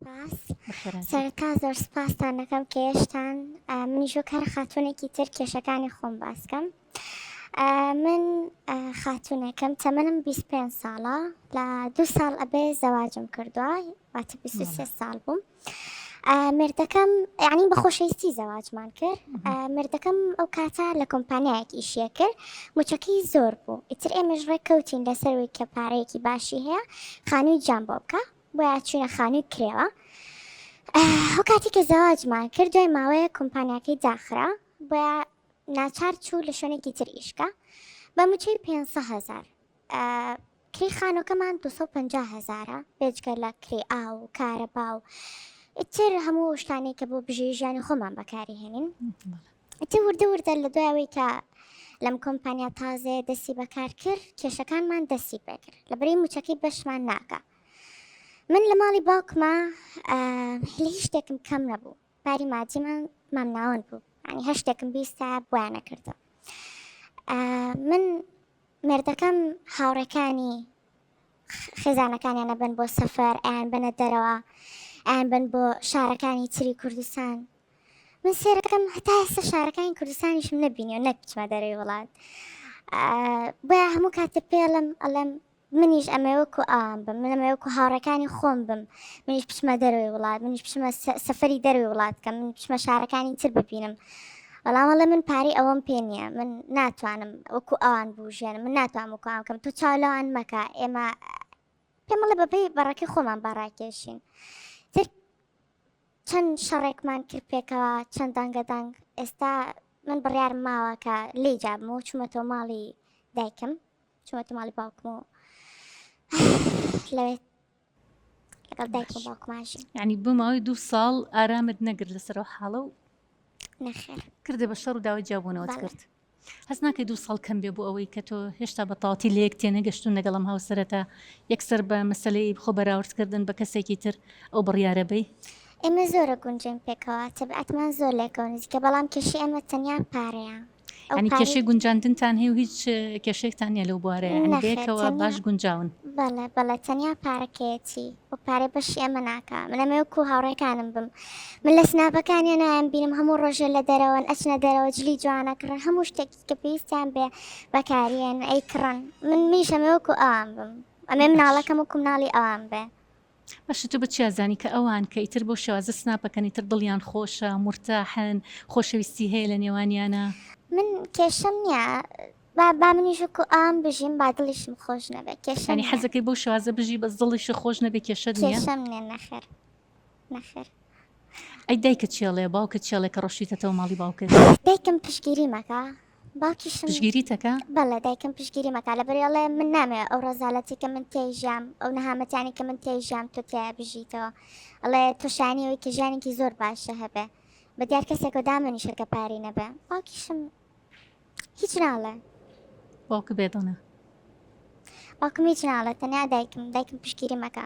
سپاس سەرەتا زۆر سپاستان دەکەم کە هێشتان منیش وەک هەر خاتونێکی تر کێشەکانی خۆم باسکەم من خاتونێکم تەمەنم 25 ساڵە لە دو ساڵ ئەبێ زەواجم کردووە واتە 23 ساڵ بووم. مردەکەم یعنی بە خۆشەویستی زەواجمان کرد مردەکەم ئەو کاتە لە کۆمپانیایەک ئیشیە کرد مچەکەی زۆر بوو ئیتر ئێمەش ڕێککەوتین لەسەر وی کە پارەیەکی باشی هەیە خانووی جام بۆ بکە بۆیە چوینە خانوی کرێوە ئەو کاتی کە زەواجمان کرد دوای ماوەیە کۆمپانیاکەی داخرا بۆیە ناچار چوو لە شوێنێکی تر ئیشکە بە موچەی 500 هزار کری خانوەکەمان 250 هزارە بێجگە لە کری ئا و کارەبا و ئیتر هەموو شتانی کە بۆ بژێژیانی خۆمان بەکاری هێنین ئیتر وردە وردە لە دوای ئەوەی کە لەم کۆمپانیا تازەیە دەستی بەکار کرد کێشەکانمان دەستی پێکرد لە بری موچەکەی بەشمان ناکە من لە ماڵی باوکما لە هیچ شتێکم کەم نەبوو پاری مادیمان مامناوەن بوو ینی هە شتێکم بیستا بۆیانە کردو من مردەکەم هاوڕەکانی خێزانەکانیان ئەبەن بۆ سەفەر، ئەیان بەنە دەرەوە، ئەیان بەن بۆ شارەکانی تری کوردستان. من سێرەکەم هەتا ئێستا شارەکانی کوردستانیشم نەبینی و نەکچمە دەرەوەی وڵات. بۆیە هەموو کاتێ پێڵم ئەڵێم منیش ئەمەوەکو ئام بم من ئەمەوەکو هاوڕەکانی خۆم بم منیش بچمە دەروی وڵات منیش بچمە سەفری دەروی وڵات کە من بچمە شارەکانی تر ببینم بەڵام وەڵێ من پارەی ئەوەم پێ نییە من ناتوانم وەکو ئەوان بژێنم من ناتوان وەکو ئەم کەم تۆ چاو لەوان مەکە ئێمە پێمەڵە بەپی بەڕەکی خۆمان بەڕاکێشین تر چەند شەڕێکمان کرد پێکەوە چەند دەنگە دەنگ ئێستا من بڕیار ماوە کە لی جابم و چوومەتەوە ماڵی دایکم چوومەتە ماڵی باوکم و لەوێت لەگەڵ دایک و باوکمان ژین یعنی بۆ ماوەی دوو ساڵ ئارامت نەگرت لەسەر و حاڵە و نەخێر کردە بە شەڕ و داوای جیابوونەوەت بەڵێ. کرد هەست ناکەی دوو ساڵ کەم بێ بۆ ئەوەی کە تۆ هێشتا بە تەواتی لە یەک تێنەگەشتون لەگەڵم هاوسەرەتا یەکسەر بە مەسەلەی خۆ بەراوردکردن بە کەسێکی تر ئەو بڕیارە بەی ئێمە زۆرە گونجێن پێکەوە تەبعەتمان زۆر لەیەکەوە نزیکە بەڵام کێشەی ئێمە تەنیا پارەیە ئەو یعنی کارەی- کێشەی گونجاندنتان هەیە و هیچ کێشەیەکتان نییە لەو بوارەیە یعنی نەخێر، بەیەکەوە تەنیا- باش گونجاون. بەڵێ بەڵێ تەنیا پارەکەیەتی ئەو پارەی بەشی ئێمە ناکا من ئەمەوێ وەکو هاوڕێکانم بم من لە سناپەکانیان نایان بینم هەموو ڕۆژێ لە دەرەوەن ئەچنە دەرەوە جلی جوانە کڕن هەموو شتێکی کە پێویستیان بێ بەکاریەن ئەی کڕن من منیش ئەمەوێ وەکو ئەوان بم ئەمەوێ مناڵەکەم وەکو مناڵی ئەوان بێ. باشە تۆ بە چیا زانی کە ئەوان کە ئیتر بۆ شێوازە سناپەکەن ئیتر دڵیان خۆشە مورتاحن خۆشەویستی هەیە لە نێوانیانا. من کێشەم نیە با با منیش وەکو ئەوان بژیم با دڵیشم خۆش نەبێ کێشەم یانی نیە حەزەکەی بەو شێوازە بژی بەس دڵیشت خۆش نەبێ کێشەت نیە؟ کێشەم نیە نەخێر نەخێر ئەی دایکت چێڵێ باوکت چێڵێ کە ڕۆشتویتەتەوە ماڵی باوکت؟ دایکم پشتگیری مەکە باوکیشم پشگیری تەکا؟ بەڵێ دایکم پشگیریم ئەکا لەبەری ئەڵێ من نامەوێ ئەو ڕەزالەتی کە من تێی ژیام ئەو نەهامەتیانی کە من تێی ژیام تۆ تێیا بژیتەوە ئەڵێ تۆ شانی ئەوی کە ژیانێکی زۆر باشە هەبێ بە دیار کەسێکەوە دامەنیشە کە پارەی نەبێ باوکیشم هیچ ناڵێ باوک بێ دڵە باوکم هیچ ناڵێ تەنیا دایکم دایکم پشگیری مەکە